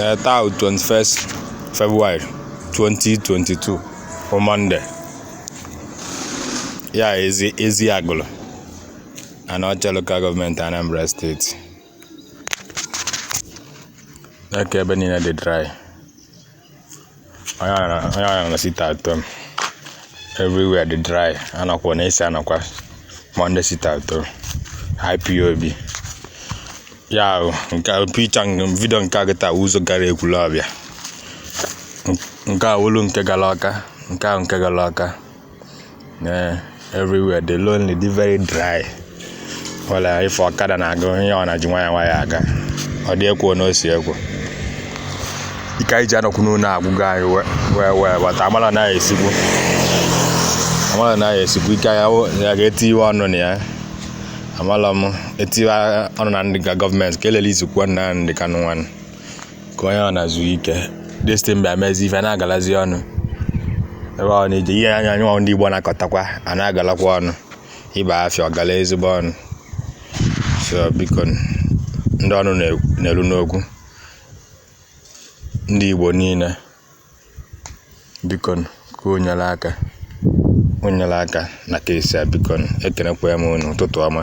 Eh, taa 21st February 2022 bụ Monday ya ezi ezi Agụlụ Anaọcha local government Anambra state neke ebe niile dị dry onye ara onye ara na sit at home everywhere dị dry anọkwa na esi anọkwa Monday sit at home IPOB ya ahụ nke a picha video nke a gịta ụzọ gara Ekwulọbịa nke a wụlụ nke gara Ọka nke ahụ nke gara Ọka na everywhere dị lonely dị very dry only few ọkada na-aga ihe ọ na-eji nwayọ nwayọ aga ọ dị egwu n'eziokwu ike anyị ji anọkwu n'ụnọ agwụgo anyị wee wee but amala na esikwu amala na esikwu ike ya ya ga-etiwe ọnụ na ya amala m etiwe ọnụ na ndị government ka e release-ikwu Nnamdị Kanụ nwanụ ka onye ọ na zuo ike this thing bịa mezi ife na-agalazi ọnụ ebe ọ na-eji ihe anya anyị ndị Igbo na-akọtakwa a na-agalakwa ọnụ ịba afịa ọ gala ezigbo ọnụ so biko ndị ọnụ na-elu n'okwu ndị Igbo niile biko ka o nyelu aka o nyelu aka na case a biko ekenekwa m unu ụtụtụ ọma